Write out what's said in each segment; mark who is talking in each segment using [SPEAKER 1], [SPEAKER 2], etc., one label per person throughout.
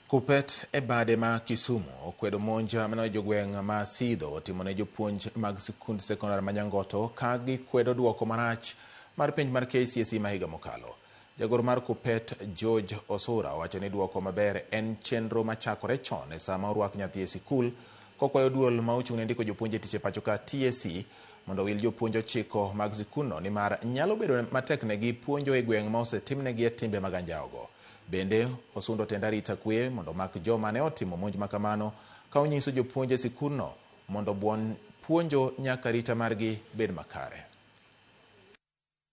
[SPEAKER 1] Kupet e bade ma Kisumu okwedo monj mane jogweng' ma Sidho otimone jopuonj mag sikund sekondar ma Nyangoto ka gikwedo duoko marach mar penj mar KCSE ma higa mokalo. Jagoro mar Kupet George Osura owacho ni duoko maber en chenro machakore chon e sama orwak nyathi e sikul kokwayo duol ma ochung' ne ndiko jopuonj e tich e pacho ka TSC mondo owil jopuonj ochiko mag sikunno nimar nyalo bedo mateknegi puonjo e gweng' ma osetimnegie timbe mag anjawogo. Bende, osundo tend arita kwe mondo omak joma ne otimo monj ma kamano ka onyiso jopuonj e sikunno mondo buon puonjo nyaka arita margi bed makare.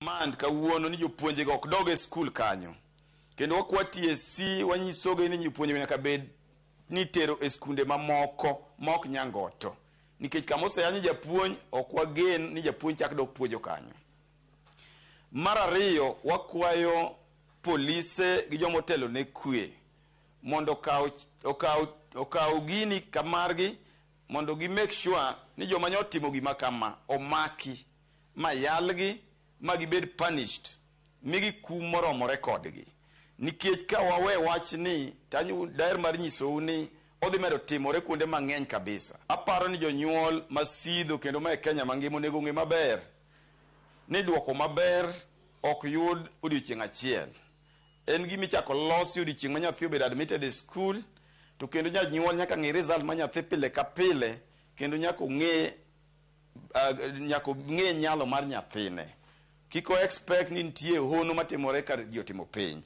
[SPEAKER 2] demand kawuono ni jopuonje go ok dog e skul kanyo kendo wakwa TSC wanyisogi ni jopuonje nyaka bed ni tero e skunde mamoko maok nyangoto nikech kama oseyanye japuonj ok wagen ni japuonj chak dok puonjo kanyo mar ariyo wakwayo polise gi joma otelo ne kwe mondo okaw okaw okaw gini kamargi mondo gi make sure ni joma nyotimo gima kama omaki ma yalgi ma gibed punished, migi kum moromore kodgi. Nikech ka wawe wachni to anyo daher mar nyisou ni odhi medo timore kuonde mang'eny kabisa. Aparo ni jonyuol ma Sidho kendo ma e Kenya mangima onego ong'e maber ni duoko maber ok yud odiochieng' achiel. En gima ichako losi odiochieng' ma nyathi obedo admitted e skul to kendo janyuol nyaka ng'i result mar nyathi pile ka pile kendo nyaka ong'e uh, nyaka ng'e nyalo mar nyathine kik o expect ni nitie hono matimore ka ji otimo penj